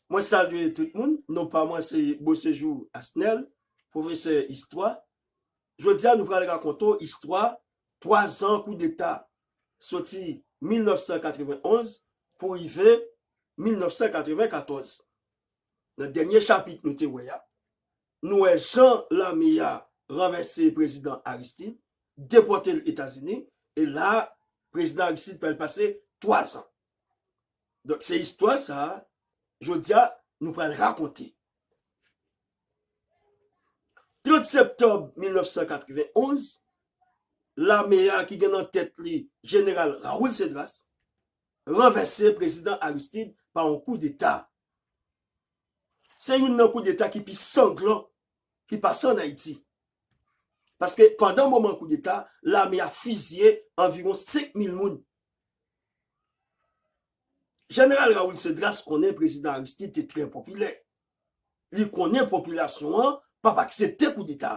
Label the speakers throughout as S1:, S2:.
S1: Mwen salye tout moun, non pa mwen se Beauséjour Asnel, pwofesè istwa. Jodi a nou pral rakonte w istwa 3 zan koudeta, soti 1991 pou rive 1994. Nan dènye chapit nou te wè a, nou wè jan lame a ranvèse prezidan Aristide, depòte l Etazini, e la a prezidan Aristide pral pase 3 zan. Donk se istwa sa jodi a nou pral rakonte. 30 septanm 1991, lame a ki gen nan tèt li jeneral Raoul Cedras ranvèse prezidan Aristide pa yon kou deta. Se youn nan kou deta ki pi sanglan ki pase an Ayiti. Paske pandan moman kou deta, lame a fizye anviwon 5 mil moun. Jeneral Raoul Cedras konnen Prezidan Aristide te trè popilè. Li konnen popilasyon an p ap aksepte koudeta.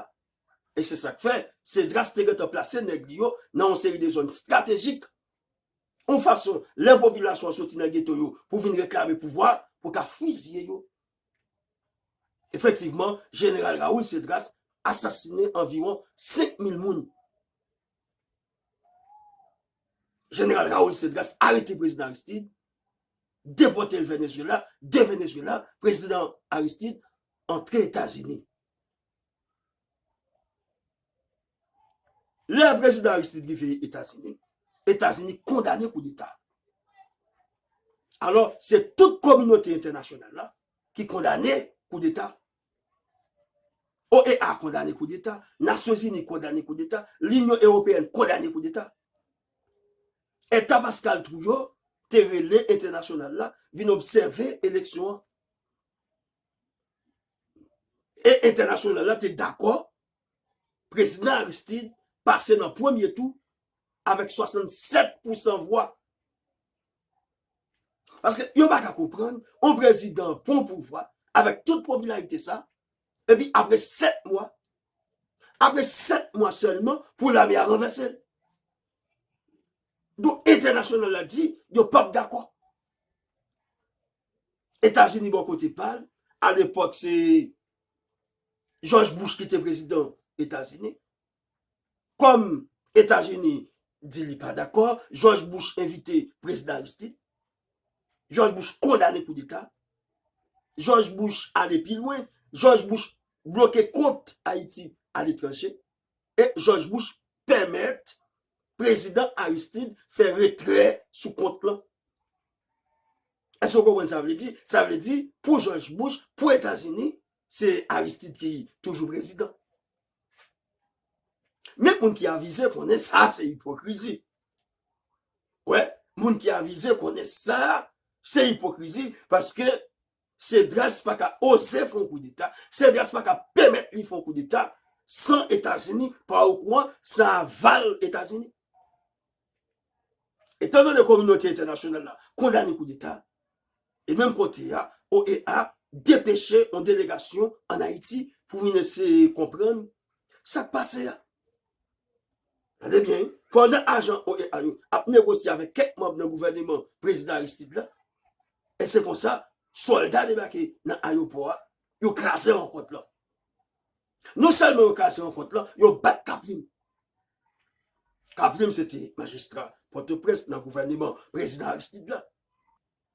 S1: E se sa k fè Cedras te gentan plase nèg li yo nan yon seri de zòn estratejik. Yon fason lè popilasyon an soti nan geto yo pou vin reklame pouvwa, pou ta fizye yo. Efektivman, Jeneral Raoul Cedras asasinen anviwon 5 mil moun. Jeneral Raoul Cedras arete Prezidan Aristide, depote l Venezuela, de Venezuela, Prezidan Aristide antre Etazini. Lè Prezidan Aristide rive Etazini, Etazini kondane kou deta. Alò, se tout kominote entènasyonal la ki kondane kou deta OEA kondane koudeta, Nasyonzini kondane koudeta, Linyon Ewopeyèn kondane koudeta. Eta Pascal Trouillot te rele entènasyonal la vin obsève eleksyon an. E entènasyonal la te dakò prezidan Aristide pase nan premye tou avèk 67 pousan vwa. Paske yo pa ka konprann yon prezidan pran pouvwa avèk tout popilarite sa, epi apre 7 mwa, apre 7 mwa sèlman pou lame a ranvèse l. Donk entènasyonal la di yo pa p dakò. Etazini bò kote pa l, alepòk se Jòj Bouch ki te prezidan Etazini. Kòm Etazini di li pa dakò, Jòj Bush envite Prezidan Aristide. Jòj Bush kondane koudeta. Jòj Bush ale pi lwen. Jòj Bush bloke kont Ayiti aletranje. E Jòj Bush pèmèt Prezidan Aristide fè retrè sou kont lan. Èske w konprann sa vle di? Sa vle di, pou Jòj Bush, pou Etazini, se Aristide ki toujou prezidan. Men moun ki avize konnen sa se ipokrizi. Wè, moun ki avize konnen sa se ipokrizi paske Cedras pa ka oze fon koudeta, Cedras pa ka pèmèt li fon koudeta san Etazini pa okouran, san aval Etazini. Etandone kominote entènasyonal la kondane koudeta, e menm kote a, OEA depeche yon delegasyon ann Ayiti pou vin eseye konprann sa k pase a. Tande byen wi, pandan ajan OEA yo ap negosye avèk kèk manm nan gouvèneman Prezidan Aristide la, e se konsa, sòlda debake nan ayewopò a, yo kraze rankont lan. Non sèlman yo kaze rankont lan, yo bat Kaplim. Kaplim se te majistra Pòtoprens nan gouvèneman prezidan Aristide la.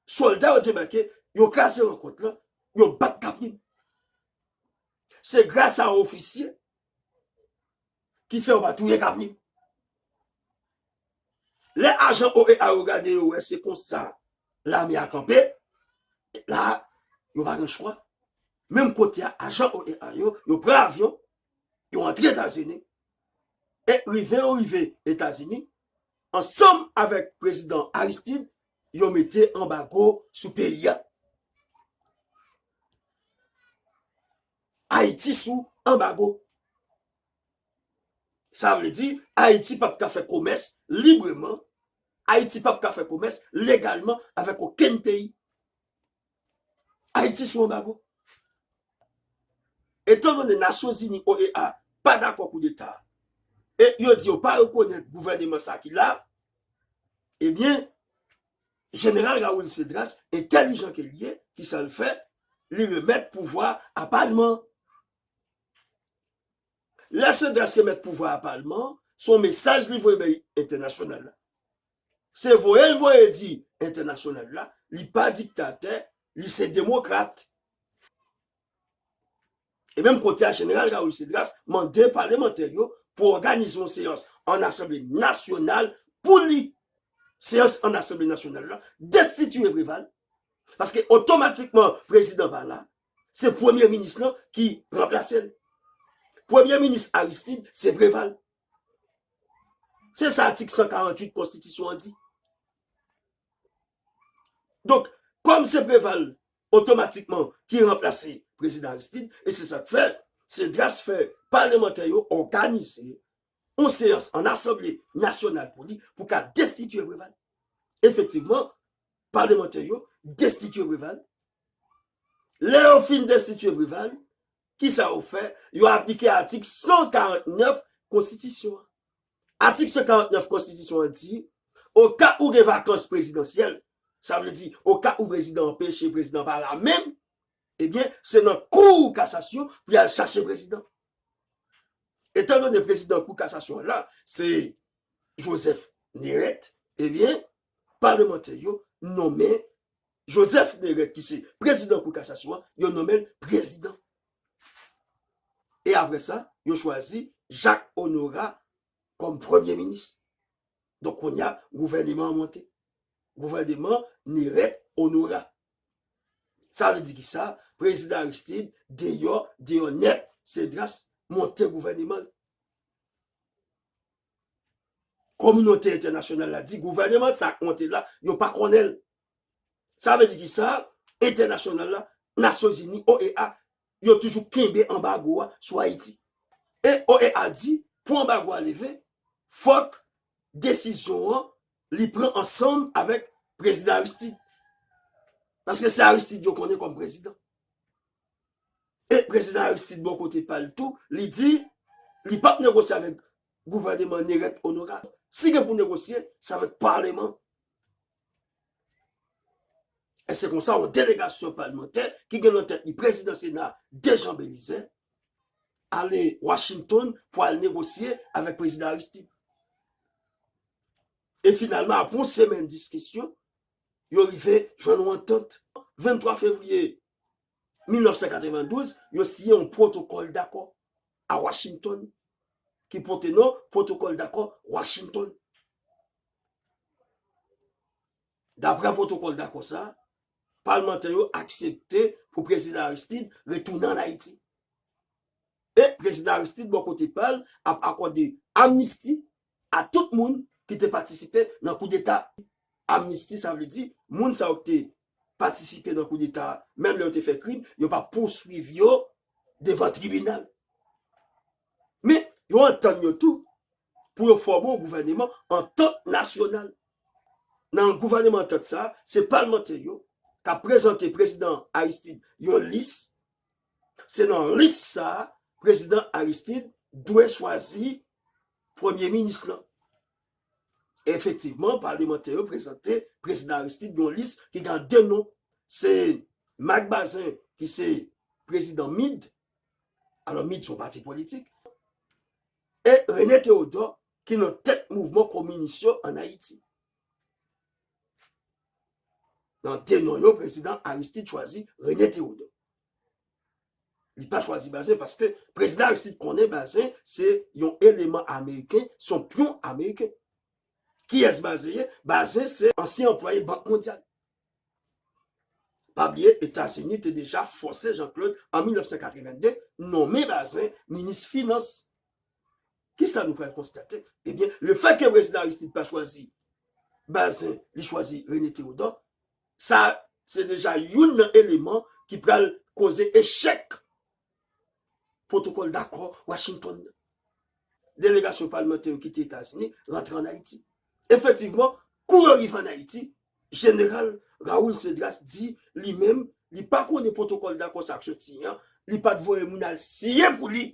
S1: Sòlda yo debake, yo kaze rankont lan, yo bat Kaplim. Se gras a yon ofisye ki fè yo pa touye Kaplim. Lè ajan OEA yo gade yo wè se konsa lame a kanpe, la a, yo pa gen chwa, menm kote a ajan OEA yo, yo pran avyon, yo antre Etazini, e rive yo rive Etazini, ansanm avèk prezidan Aristide, yo mete anbago sou peyi a. Ayiti sou anbago. Sa vle di, Ayiti pap ka fè komès libreman, Ayiti pap ka fè komès legalman avèk okenn peyi. Ayiti sou anbago. Etan done Nasyonzini, OEA, pa dakò koudeta a, e yo di yo pa rekonèt gouvèneman sa ki la a, ebyen, Jeneral Raoul Cedras, entèlijan ke li ye, kisa l fè? Li remèt pouvwa a a Palman an. Lè Cedras remèt pouvwa a palman, se yon mesaj li voye bay entènasyonal la. Se voye l voye di entènasyonal la li pa diktatè, li se demokrat. E menm kote a Jeneral Raúl Cedras mande palemantè yo pou òganize yon seyans ann asanble nasyonal pou li, seyans ann asanble nasyonal la, destitiye Preval, paske otomatikman prezidan pa la, se premye minis lan ki ranplase l. Premye minis Aristide se Preval. Se sa atik 148 konstitisyon an di. Donk, kòm se Preval otomatikman ki ranplase prezidan Aristide, e se sa k fè, se dras fè palemantè yo òganize yon seyans an asanble nasyonal pou li pou ka destitye Preval. Efektivman, palemantè yo destitye Preval. Lè yo fin destitye Preval, ki sa yo fè? Yo aplike atik 149 konstitisyon an. Atik 149 konstitisyon an di, oka ou gen vakans prezidansyèl, sa vle di oka ou prezidan an peche, prezidan an pa la menm, ebyen se nan kou kasasyon pou y al chache prezidan. Etan done prezidan kou kasasyon an la se Joseph Nérette, ebyen palemantè yo nonmen Joseph Nérette ki se prezidan kou kasasyon an, yo nonmen l prezidan. E aprè sa, yo chwazi Jacques Honorat kòm premye minis. Donk kounya gouvèneman an monte. Gouvèneman Nérette Honorat. Sa vle di kisa? Prezidan Aristide deyò, deyò nèt, Cedras monte gouvèneman l. Kominote entènasyonal la di gouvèneman sa k monte la, yo pa konnen l. Sa vle di kisa? Entènasyonal la, Nasyonzini, OEA, yo toujou kenbe anbago a sou Ayiti. E OEA di pou anbago a leve, fòk desizyon an li pran ansanm avèk Prezidan Aristide. Paske se Aristide yo konnen kòm prezidan. E Prezidan Aristide bò kote pa l tou, li di li pap negosye avèk gouvèneman Nerette Honorable. Si gen pou negosye, se avèk paleman E se konsa yon delegasyon palmantè ki gen nan tèt li prezidan sena Dejan Belize ale Washington pou al negosye avèk prezidan Aristide. E finalman apre yon semèn diskisyon, yo rive jwenn yon antant. 23 fevriye 1992, yo siyen yon pwotokòl dakò a Washington ki pote non pwotokòl dakò Washington. Daprè pwotokòl dakò sa a, palmantè yo aksepte pou Prezidan Aristide retounen ann Ayiti. E Prezidan Aristide bò kote pa l ap akòde amnisti a tout moun ki te patisipe nan koudeta. Amnisti sa vle di moun sa yo ki te patisipe nan koudeta a menm lè yo te fè krim yo p ap pouswiv yo devan tribinal. Men yo antann yo tou pou yo fòme yon gouvèneman antant nasyonal. Nan gouvèneman antant sa a, se palmantè yo k ap prezante prezidan Aristide yon lis. Se nan lis sa a prezidan Aristide dwe chwazi premye minis lan. Efektivman, palmantè yo prezante prezidan Aristide yon lis ki gen 2 non. Se Marc Bazin ki se prezidan MID, alò MID se yon pati politik. E René Théodore ki nan tèt mouvman kominis yo an Ayiti. Nan de non yo prezidan Aristide chwazi René Théodore. Li pa chwazi Bazin paske prezidan Aristide konnen Bazin se yon eleman ameriken, se yon pyon ameriken. Kiyès Bazin ye? Bazin se ansyen anplwaye Bank Mondyal. Pa bliye Etazini te deja fòse Jean Claude an 1982 nonmen Bazin minis finans. Kisa nou pral konstate? Ebyen le fè ke prezidan Aristide pa chwazi Bazin li chwazi René Théodore sa se deja youn nan eleman ki pral koze echèk Pwotokòl dakò Washington nan. Delegasyon palmantè yo kite Etazini rantre an Ayiti. Efektivman, kou yo rive an Ayiti, Jeneral Raul Cedras di li menm li pa konnen pwotokòl dakò sa k sot siyen an, li pa t voye moun al siyen pou li.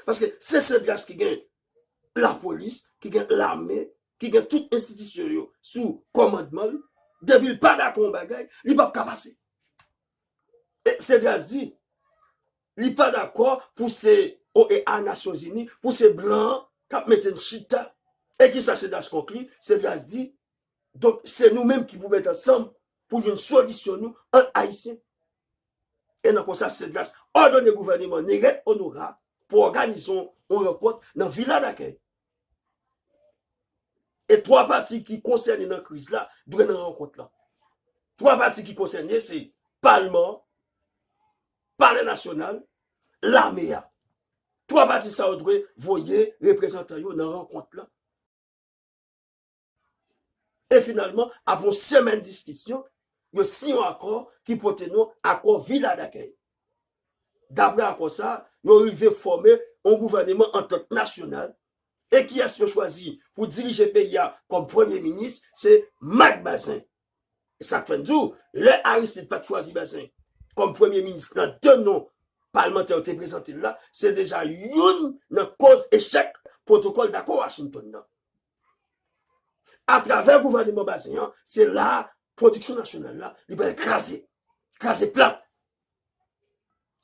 S1: Paske se Cedras ki gen lapolis, ki gen lame, ki gen tout enstitisyon yo sou kòmandman l, depi l pa dakò yon bagay, li p ap ka pase. Cedras di li pa dakò pou se OEA, Nasyonzini, pou se blan an k ap mete n chita. E ki sa Cedras konkli? Cedras di, Donk se nou menm ki pou met ansanm pou jwenn solisyon nou ant Ayisyen. E nan konsa Cedras òdone gouvèneman Néret Honorat pou òganize yon rankont nan Vila Dakèy E 3 pati ki konsène nan kriz la dwe nan rankont la. 3 pati ki konsène se palman, palè nasyonal, lame a. 3 pati sa yo dwe voye reprezantan yo nan rankont la. E finalman, apre yon semèn diskisyon, yo siyen yon akò ki pote non Akò Vila Dakèy. Dapre akò sa a, yo rive fòme yon gouvèneman antant nasyonal, e kiyès yo chwazi pou dirije peyi a kòm premye minis, se Mak Bazin. E sa k fè n di w, lè Aristid pa t chwazi Bazin kòm premye minis nan de non palmantè yo te prezante l la, se deja youn nan koz echèk pwotokòl dakò Washington nan. A travè gouvèneman Bazin an, se la a pwodiksyon nasyonal la li pral kraze, kraze plat.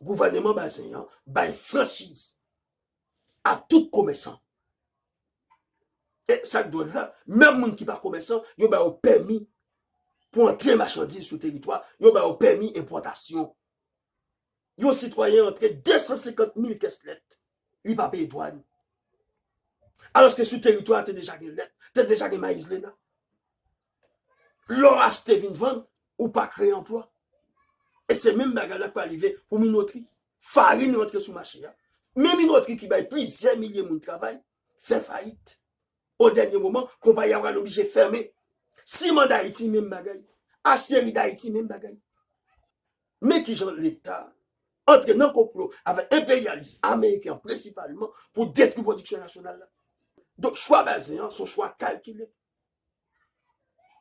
S1: Gouvèneman Bazin an bay franchiz a tout komèsan. E sa k dwòl la, menm moun ki pa komèsan, yo ba yo pèmi pou antre machandiz sou teritwa, yo ba yo pèmi enpòtasyon. Yon sitwayen antre 250 mil kès lèt, li pa peye dwàn. Alòske sou teritwa a te deja gen lèt, te deja gen mayizlena. Lè w achte vin vann, ou pa kreye anplwa. E se menm bagay la k pral rive pou minotri. Farin rantre sou mache a, men minotri ki bay plizyè milye moun travay, fè fayit. O dènye moman, konpayi a pral oblije fèmen. Siman Dayiti menm bagay. Asyeri Dayiti menm bagay. Men kijan leta antre nan konplo avèk enperyalis ameriken an prensipalman pou detwi pwodiksyon nasyonal la. Donk chwa Bazin an se yon chwa kalkile.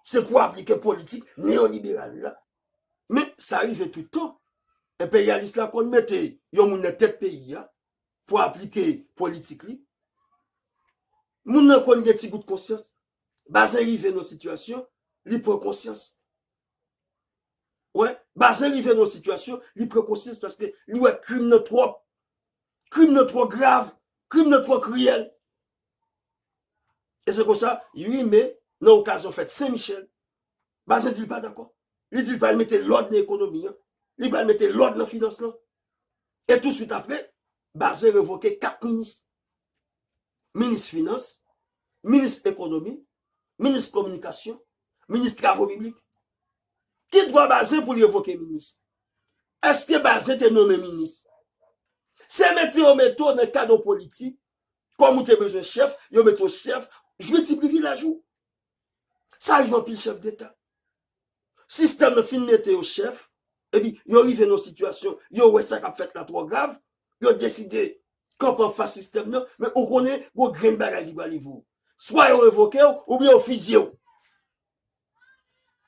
S1: Se pou aplike politik neyoliberal la. Men sa rive tout tan. Enperyalis la konn mete yon moun nan tèt peyi a pou aplike politik li. Moun nan konn gen ti gout konsyans. Bazin rive nan yon sitiyasyon li pran konsyans. Wè, Bazin rive nan yon sitiyasyon, li pran konsyans paske li wè krim nan twòp. Krim nan twò grav, krim nan twò kriyèl. E se konsa, 8 me, nan okazyon fèt Sen Michèl, Bazin di li pa dakò. Li di li pral mete lòd nan ekonomi an, li pral mete lòd nan finans lan. E touswit apre, Bazin revoke 4 minis. minis finans, minis ekonomi, minis kominikasyon, minis travo piblik. Ki dwa Bazin pou l revoke minis? Eske Bazin te nonmen minis? Se mete yo mete w nan kad yon politik, kòm ou te bezwen chèf, yo mete w chèf, jwi ti privilèj ou. Sa rive anpil chèf deta. Sistèm nan fin mete yo chèf, epi yo rive nan yon sitiyasyon, yo wè sa k ap fèt la twò grav, yo deside kanpe anfas sistèm nan, men ou konnen yon grenn bagay ki pral rive w. Swa yo revoke w, oubyen yo fizye w.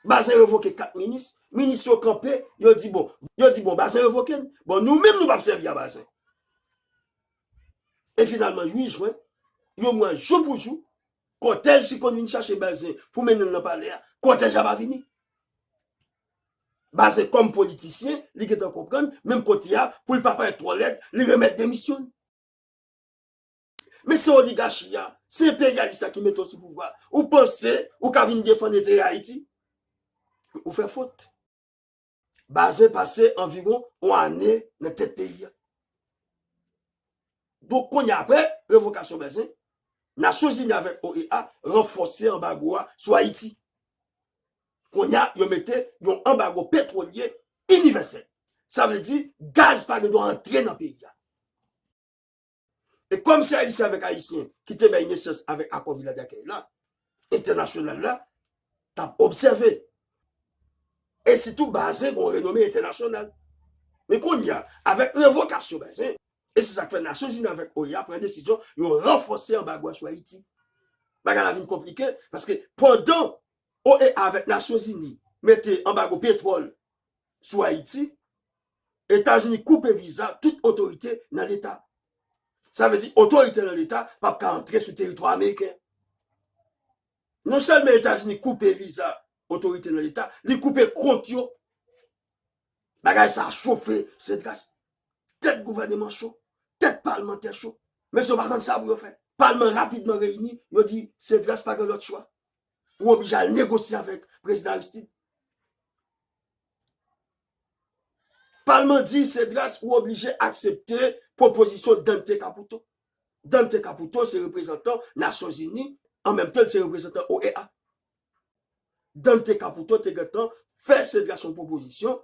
S1: Bazin revoke 4 minis, minis yo kanpe, yo di bon, yo di bon Bazin revoke n, bon nou menm nou p ap sèvi a Bazin. E finalman 8 jwen, yon mwa jou pou jou, Kòtèj ki konn vin chache Bazin pou mennen l nan palè a, kòtèj la pa vini. Bazin kòm politisyen, li gentan konprann, menm kote a, pou l pa parèt twò lèd, li remèt demisyon l. Men se oligachi a, se enperyalis la ki mete w sou pouvwa a. Ou panse ou ka vin defann enterè Ayiti? Ou fè fot. Bazen pase anviwon yon ane nan tèt peyi a. Donk kounye a apre revokasyon Bazen, Nasyonzini avèk OEA ranfòse anbago a sou Ayiti. Kounye a yo mete yon anbago petwolye inivèsèl. Sa vle di gaz pa gen dwa antre nan peyi a. E kòm se Ayisyen avèk Ayisyen ki te bay nesans avèk akò Vila Dakèy la, entènasyonal la t ap obsève. E sitou Bazin gen yon renome entènasyonal. Men kounye a, avèk revokasyon Bazin, e se sa k fè Nasyonzini avèk OEA pran desizyon yo ranfòse anbago a sou Ayiti. Bagay la vin konplike, paske pandan OEA avèk Nasyonzini mete anbago petwòl sou Ayiti, Etazini koupe viza tout otorite nan leta. Sa vle di otorite nan leta pap ka antre sou teritwa ameriken. Non sèlmen Etazini koupe viza otorite nan leta, li koupe kont yo. Bagay sa chofe Cedras. Tèt gouvèneman cho, tèt palmantè cho. Mesye yo pa konn sa pou yo fè. Palman rapidman reyini, yo di Cedras pa gen lòt chwa. Ou oblije al negosye avèk prezidan Aristide. Palman di Cedras ou oblije aksepte pwopozisyon Dante Caputo. Dante Caputo se reprezantan Nasyon Zini, an menm tan li se reprezantan OEA. Dante Caputo te gen tan fè Cedras yon pwopozisyon,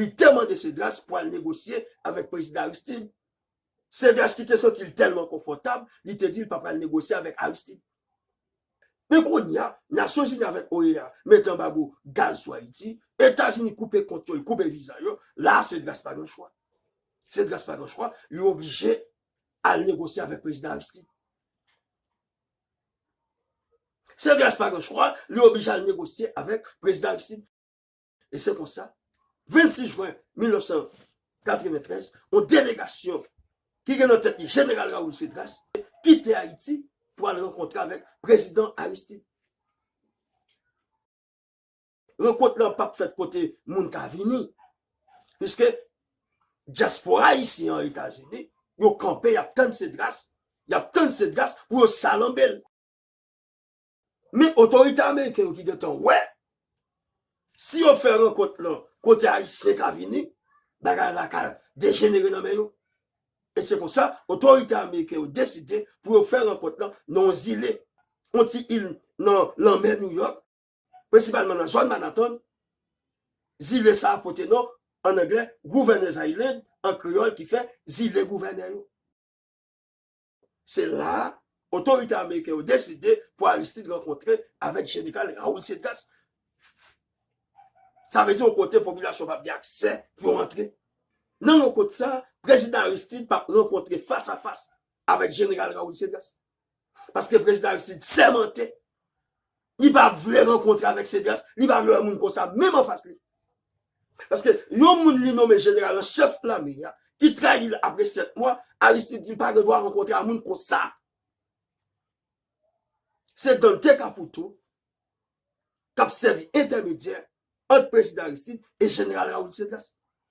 S1: li te mande Cedras pou al negosye avèk prezidan Aristide. Cedras ki te santi l tèlman konfòtab, li te di l pa pral negosye avèk Aristide. Men kounye a, Nasyonzini avèk OEA met anbago gaz sou Ayiti, Etazini koupe kont yo, li koupe viza yo, la a Cedras pa gen chwa. Cedras pa gen chwa, li oblije al negosye avèk Prezidan Aristide. Cedras pa gen chwa, li oblije al negosye avèk Prezidan Aristide. E se konsa, 26 jwen 1993, yon delegasyon ki gen nan tèt li Jeneral Raoul Cédras kite Ayiti pou al rankontre avèk Prezidan Aristide. Rankont lan pap fèt kote moun ka vini, piske dyaspora ayisyen an Etazini, yo kanpe y ap tann Cédras, y ap tann Cédras pou yo salanbe l. Men otorite ameriken yo ki gentan wè si yo fè rankont lan kote ayisyen ka vini, bagay la ka dejenere nan men yo. E se konsa otorite ameriken yo deside pou yo fè rankont lan nan yon zile, yon ti il nan lanmè Nouyòk, prensipalman nan zòn Manhattan. Zile sa a pote non, an anglè, Gouvènèz Island, an kreyòl ki fè Zile Gouvènè yo. Se la a, otorite ameriken yo deside pou Aristide rankontre avèk jeneral Raoul Cedras. Sa vle di yon kote popilasyon pa p gen aksè pou yo rantre. Nan rankont sa a, prezidan Aristide pa p rankontre fas a fas avèk jeneral Raoul Cedras. Paske prezidan Aristide sèmante. Li pa vle rankontre avèk Cedras, li pa vle wè moun konsa menm anfas li. Paske yon moun li nome jeneral an chèf lame a, ki trayi l apre 7 mwa, Aristide di l pa gen dwa rankontre a moun konsa. Se Dante Caputo k ap sèvi entèmedyè ant prezidan Aristide e jeneral Raoul Cedras.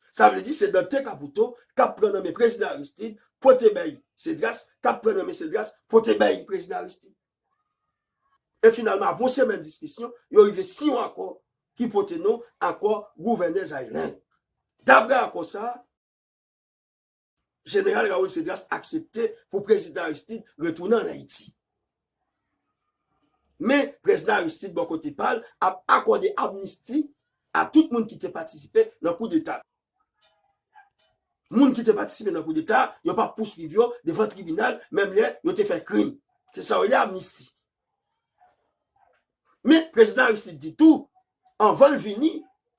S1: Sa vle di se Dante Caputo k ap pran nan men prezidan Aristide pote bay Cedras, k ap pran nan men Cedras pote bay prezidan Aristide. E finalman apre yon semèn diskisyon, yo rive siy yon akò ki pote non Akò Gouvènè Zairè. Dapre akò sa a, Jeneral Raoul Cédras aksepte pou Prezidan Aristide retounen an Ayiti. Men, Prezidan Aristide bò kote pa l ap akòde amnisti a tout moun ki te patisipe nan koudeta. Moun ki te patisipe nan koudeta a, yo pa pouswiv yo devan tribinal menm lè yo te fè krim. Se sa yo rele amnisti. Men, Prezidan Aristide di tou, anvan l vini,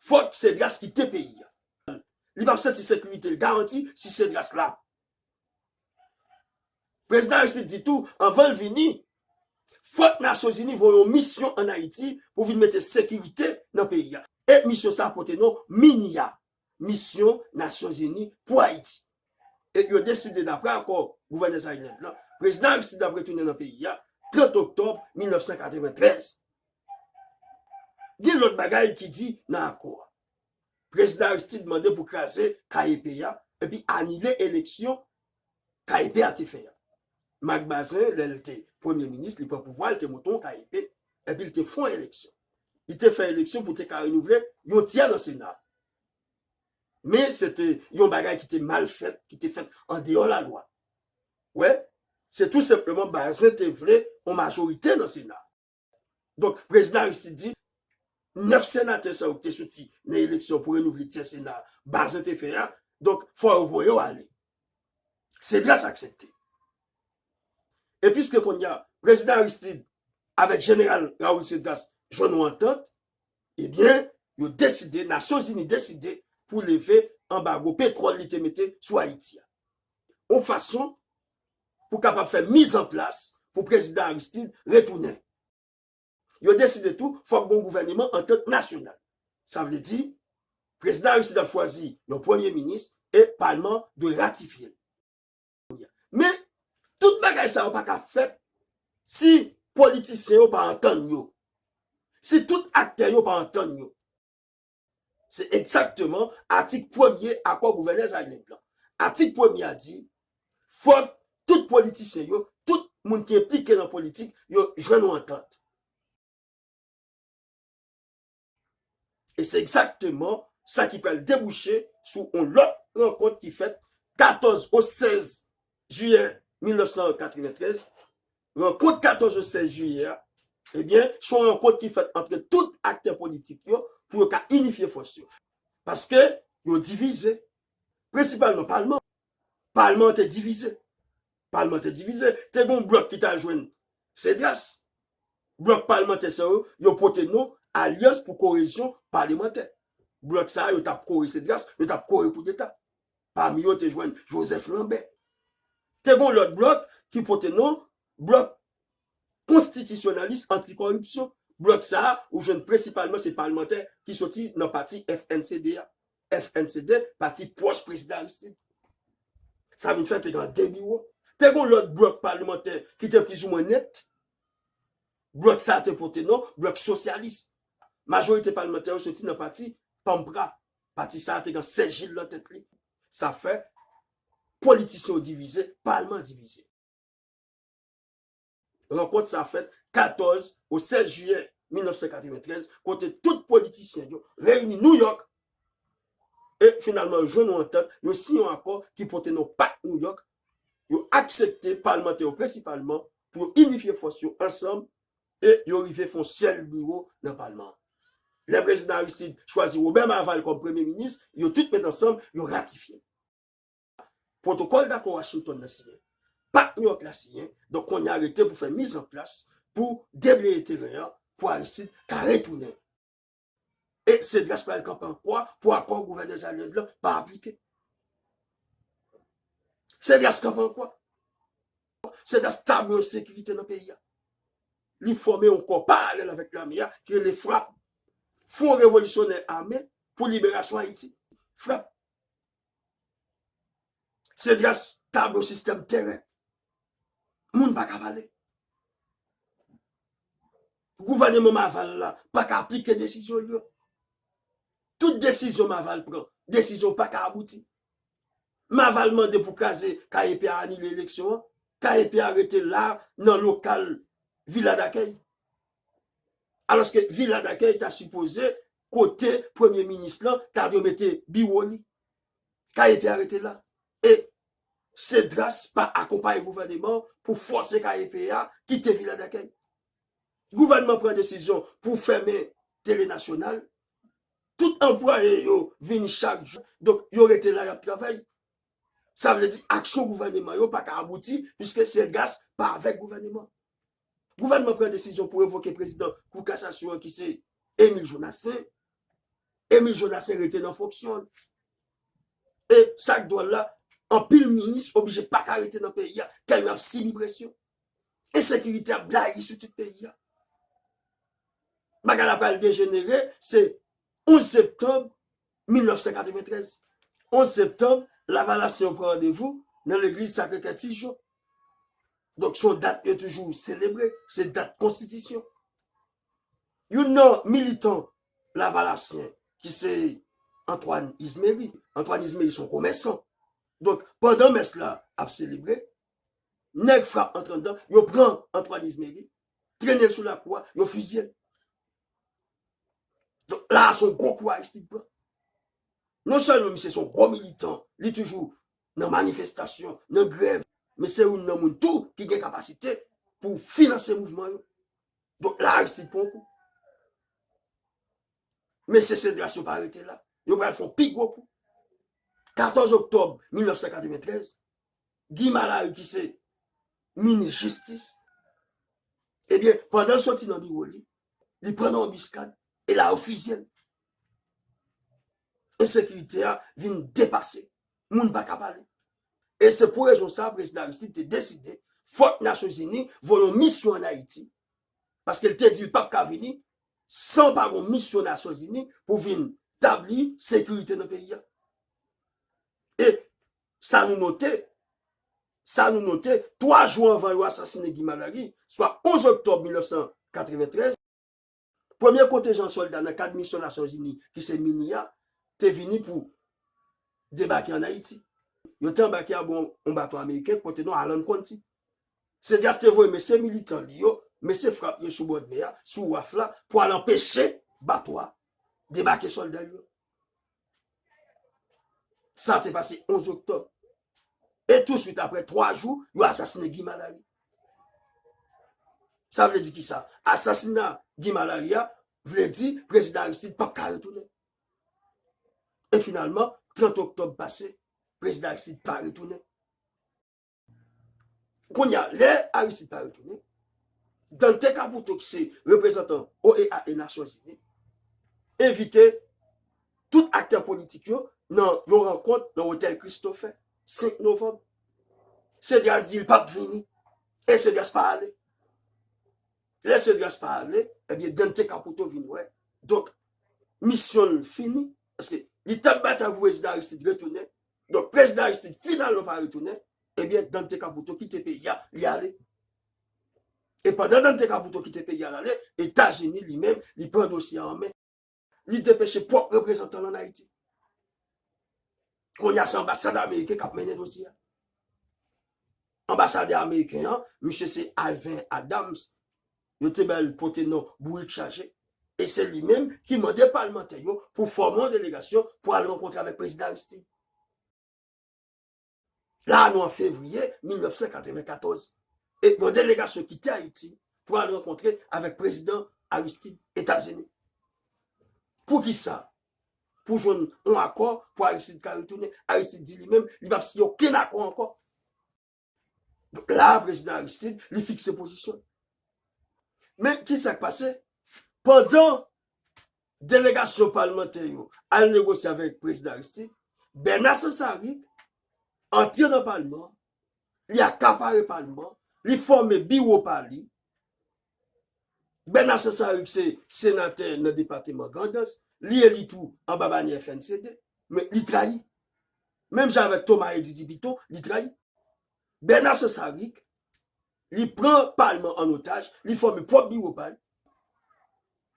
S1: fòk Cedras kite peyi a. Li pap santi sekirite l garanti si Cedras la. Prezidan Aristide di tou anvan l vini, fòk Nasyonzini voye yon misyon ann Ayiti pou vin mete sekirite nan peyi a. E misyon sa a pote non MINIA, Misyon Nasyonzini pou Ayiti. E yo deside dapre akò gouvènè Zaïne-Land lan, Prezidan Aristide ap retounen nan peyi a 30 oktòb 1993. Gen lòt bagay ki di nan akò a. Prezidan Aristide mande pou kraze KEP a epi anile eleksyon KEP a te fè a. Marc Bazin, lè l te Premye Minis, li pran pouvwa, l te monte yon KEP epi l te fè yon eleksyon. Li te fè eleksyon pou te ka renouvle yon tyè nan Sena a. Men se te yon bagay ki te mal fèt, ki te fèt andeyò lalwa. Wè, se tou senpleman Bazin te vle yon majorite nan Sena a. Donk, Prezidan Aristide di, 9 senatè sa yo ki te soti nan eleksyon pou renouvle tyè sena a, Bazin te fè a, donk, fò yo voye yo ale. Cedras aksepte. E piske kounye a, Prezidan Aristide avèk Jeneral Raoul Cedras jwenn yon antant, ebyen, yo deside, Nasyon Zini deside pou leve anbago petwòl li te mete sou Ayiti a. Yon fason pou kapab fè mizanplas pou Prezidan Aristide retounen. Yo deside tou fòk gon gouvèneman antant nasyonal. Sa vle di, Prezidan Aristide ap chwazi yon Premye Minis e Palman dwe ratifye l. Men, tout bagay sa yo pa ka fèt si politisyen yo pa antann yo, si tout aktè yo pa antann yo. Se egzakteman atik premye akò Gouvènè Zaïneg lan. Atik premye a di, Fòk tout politisyen yo, tout moun ki enplike nan politik yo jwenn yon antant. E se egzakteman sa ki pral debouche sou yon lòt rankont ki fèt 14 ou 16 jiyè 1993 Rankont 14 ou 16 jiyè a, ebyen, se yon rankont ki fèt antre tout aktè politik yo pou yo ka inifye fòs yo. Paske, yo divize. Prensipalman palman an. Palman an te divize. Palman an te divize. Te gen yon blòk ki ta jwenn Cedras. Blòk palmantè sa yo, yo pote non Alyans pou korezyon palemantè. Blòk sa a, yo t ap kore Cedras, yo t ap kore koudeta. Pami yo te jwenn Joseph Lambert. Te gen yon lòt blòk ki pote non Blòk Konstitisyonalis Anti-Kòripsyon. Blòk sa a ou jwenn prensipalman se palmantè ki soti nan pati FNCD a. FNCD, pati pwòch Prezidan Aristide. Sa vin fè te gen de biwo. Te gen yon lòt blòk palemantè ki te plizoumwen net. Blòk sa a te pote non Blòk Sosyalis. Majorite palmantè yo soti nan pati PAMPRA, Pati sa a te gen Sè Jil nan tèt li. Sa fè, politisyen yo divize, palman an divize. Rankont sa a fèt 14 ou 16 jiyè 1993, kote tout politisyen yo reyini Nouyòk e finalman yo jwenn yon antant, yo siyen yon akò ki pote non Pak Nouyòk, yo aksepte, palmantè yo prensipalman, pou yo inifye fòs yo ansanm e yo rive fon sèl biwo nan palman an. Lè Prezidan Aristide chwazi Robert Marval kòm Premye Minis, yo tout met ansanm, yo ratifye. Pwotokòl dakò Washington nan siyen. Pak New York la siyen, donk kounye a rete pou fè mizanplas pou debleye teren an pou Aristide ka retounen. E Cedras pral kanpe an kwa pou akò gouvènè Zaniolo lan pa aplike. Cedras kanpe an kwa. Cedras ta dwe yon sekirite nan peyi a. Li fòme yon kò paralèl avèk lame a ki rele frap. Fwon revolisyonè ame pou liberasyon Ayiti. Frap. Se gras tablo sistèm tèren. Moun pa ka pale. Gouvèneman Maval la pa ka aplike desizyon li yo. Tout desizyon Maval pran, desizyon pa ka abouti. Maval mande pou kraze KEP a anile eleksyon an. KEP a rete la nan lokal vila dakèy. Alòske vila dakèy ta sipoze Kote premye minis lan ta dwe mete biwo li? Kaye P a rete la? E Cedras pa akonpaye gouvèneman an pou fòse Kaye P a kite Vila Dakèy? Gouvènman pran desizyon pou fèmen tele nasyonal, tout anplwaye yo vini chak jou, donk yo rete la y ap travay. Sa vle di aksyon gouvèneman yo pa ka abouti piske Cedras pa avèk gouvèneman. Gouvènman pran desizyon pou revoke prezidan kou kasasyon an ki se Emile Jonassaint. Emile Jonassaint rete nan fonksyon l. E sak dwòl la, anpil minis oblije pa ka rete nan peyi a tèlman y ap sibi presyon. Ensekirite ap blayi sou tout peyi a. Bagay la pral dejenere, se 11 septanm 1993, 11 septanm, lavalasyen yo pran randevou nan legliz Sakre Kè Ti Jon. Donk, se yon dat yo toujou selebre, se dat konstitisyon. Youn nan militan lavalasyen ki se Antwàn Izmeri, Antwàn Izmeri se yon komèsan. Donk, pandan mès la ap selebre, nèg frap antre anndan, yo pran Antwàn Izmeri, Trennen l sou lakou a, yo fizye l. Donk la a se yon gwo kou Aristide pran. Non sèlman misye se yon gwo militan, li toujou nan manifestasyon, nan grèv, men se youn nan moun tou ki gen kapasite pou finanse mouvman yo. Donk la a Aristide pran yon kou. Mesye Cedras yo pa rete la. Yo pral fè yon pi gwo kou. 14 oktòb 1993, Guy Malaru ki se minis jistis, ebyen pandan l soti nan biwo li, li pran nan anbiskad, e la yo fizye l. Ensekirite a vin depase, moun pa ka pale. E se pou rezon sa prezidan Aristide te deside fòk Nasyonzini voye yon misyon an Ayiti, paske l te di l pap ka vini san pa gon misyon Nasyonzini pou vin tabli sekirite nan peyi a. E Sa nou note, sa nou note, twa jou anvan yo asasine Guy Marary, swa 11 oktòb 1993, premye kontenjan sòlda nan kad misyon Nasyonzini ki se Minea te vini pou debake ann Ayiti. Yo te anbake abò yon bato ameriken ki pote non Alan Quanti. Cedras te voye mesye militan li yo, mesye frap yo sou bòdmè a, sou waf la, pou al anpeche bato a debake sòlda l yo. Sa te pase 11 oktòb. E tou swit apre 3 jou, yo asasine Guy Malary. Sa vle di ki sa? Asasina Guy Malary a vle di prezidan Aristide pap ka retounen. E finalman, 30 oktòb pase, prezidan Aristide pa retounen. Kounye a, lè Aristide pa retounen, Dante Caputo ki se reprezantan OEA e Nasyon Zini, envite tout aktè politik yo nan yon rankont nan Otèl Christophe, 5 novanm. Cedras di li pap vini, e Cedras pa ale. Lè Cedras pa ale, ebyen eh Dante Caputo vin wè. Donk, misyon l fini, paske li tap batay pou prezidan Aristide retounen, Donk prezidan Aristide finalman pa retounen, ebyen Dante Caputo kite peyi a, li ale. E pandan Dante Caputo kite peyi a l ale, Etazini li menm li pran dosye a an men. Li depeche pwòp reprezantan l an Ayiti. Kounye a se anbasad ameriken k ap mennen dosye a. Anbasadè ameriken an, misye se Alvin Adams, yo te bay li pote non Bourik Chaje e se li menm ki mande palmantè yo pou fòme yon delegasyon pou al rankontre avèk Prezidan Aristide. La a nou an fevriye 1994 e yon delegasyon kite Ayiti pou al rankontre avèk Prezidan Aristide, Etazini. Pou ki sa? Pou jwenn yon akò pou Aristide ka retounen. Aristide di li menm li p ap siyen okenn akò ankò. La prezidan Aristide li fikse pozisyon. Men ki sa k pase? Pandan delegasyon palmantè yo al negosye avèk prezidan Aristide, Bèna Sansarik antre nan palman, li akapare palman, li fòme biwo pa li, Bernard Sansaricq se senatè nan depateman Grandans, li eli tou anba banyè FNCD, men li trayi. Menm jan avèk Thomas Eddy Dipiton, li trayi. Bernard Sansaricq, li pran palman an otaj, li fòme pwòp biwo pa l,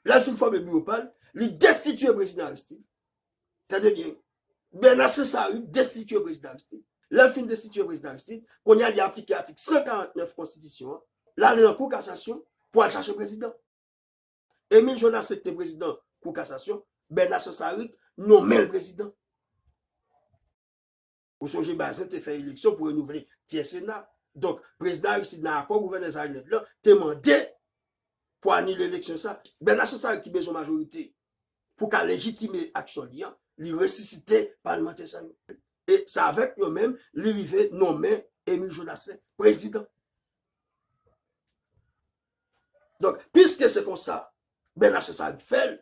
S1: lè l fin fòme biwo pa l, li destitye prezidan Aristide, Tande byen, Bernard Cesari destitye Prezidan Aristide. Lè l fin destitye Prezidan Aristide, kounye a li aplike atik 149 konstitisyon an, l ale nan Kou Kasasyon pou al chache prezidan. Emile Jonas se ki te prezidan Kou Kasasyon, Bernard Cesari nonmen l prezidan. Ou sonje Bazin te fè eleksyon pou renouvle tyè Sena. Donk, Prezidan Aristide nan akò Gouvènè Zaïnèd lan te mande pou anile eleksyon sa. Bernard Cancari ki bezwen majorite pou ka lejitime aksyon li an, li resisite palmantè sa yo. E se avèk yo menm li rive nonmen Emile Jonassaint Prezidan. Donk, piske se konsa Bernard Casares fè l,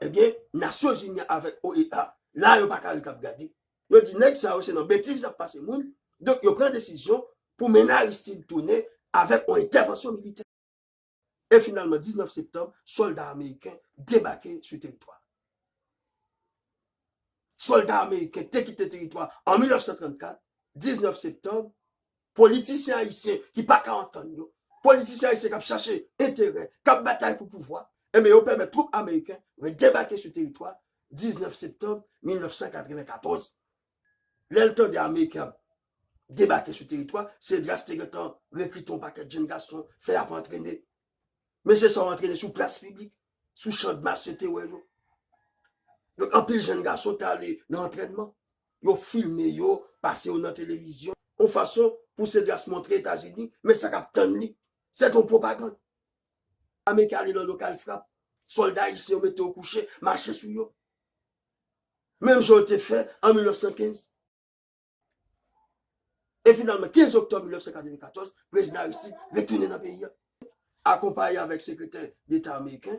S1: ebyen, Nasyon Zini an avèk OEA, la yo pa ka ret ap gade. Yo di nèg sa yo se nan betiz y ap pase moun, donk yo pran desizyon pou mennen Aristide tounen avèk yon entèvansyon militè. E finalman 19 septanm, sòlda ameriken debake sou teritwa a. Sòlda ameriken te kite teritwa a an 1934, 19 septanm, Politisyen ayisyen ki pa ka antann yo, politisyen ayisyen k ap chache enterè, k ap batay pou pouvwa, enben yo pèmèt twoup ameriken vin debake sou teritwa 19 septanm 1994. Lè l tande ameriken ap debake sou teritwa, Cedras te gentan rekriton pakèt jenn gason, fè y ap antrene. Men se sa w antrene sou plas piblik, sou chandmas yo te wè yo. Donk anpil jenn gason ta ale nan antrènman, yo filme yo, pase yo nan televizyon, yon fason pou Cedras montre Etazini men sa k ap tann li. Sèt yon pwopagann. Ame ki ale nan lokal frap, sòlda ayisyen yo mete yo kouche, mache sou yo. Menm jan yo te fè an 1915. E finalman, 15 oktòb 1994, Prezidan Aristide retounen nan peyi a. Akonpaye avèk Sekretè Deta ameriken,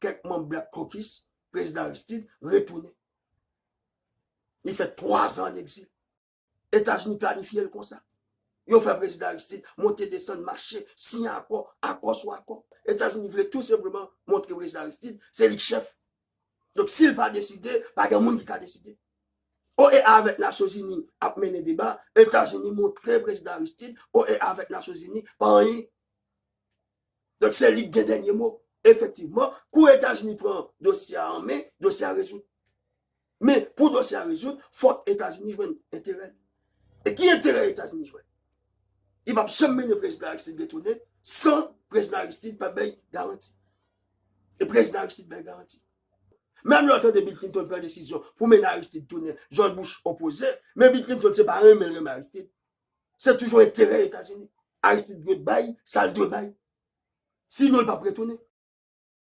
S1: kèk manm Black Caucus, Prezidan Aristide retounen. Li fè 3 zan an egzil. Etazini planifye l konsa. Yo fè Prezidan Aristide monte desann, mache, siyen akò, akò sou akò. Etazini vle tou senpleman montre Prezidan Aristide se li k chèf Donk si l pa deside, pa gen moun ki ka deside. OEA avèk Nasyonzini ap mennen deba, Etazini montre Prezidan Aristide OEA avèk Nasyonzini pa anyen. Donk se li ki gen dènye mo. Efektivman, kou Etazini pran dosye a an men, dosye a rezoud. Men, pou dosye a rezoud, fòk Etazini jwenn enterè l. E ki enterè Etazini jwenn? Li pap janm mennen Prezidan Aristide retounen san Prezidan Aristide pa bay garanti. E prezidan Aristide bay garanti. Menm lè w tande Bill Clinton pran desizyon pou mennen Aristide tounen, George Bush opoze, men Bill Clinton se pa renmen l renmen Aristide. Se toujou enterè Etazini. Aristide dwe bay sa l dwe bay. Sinon l pap retounen.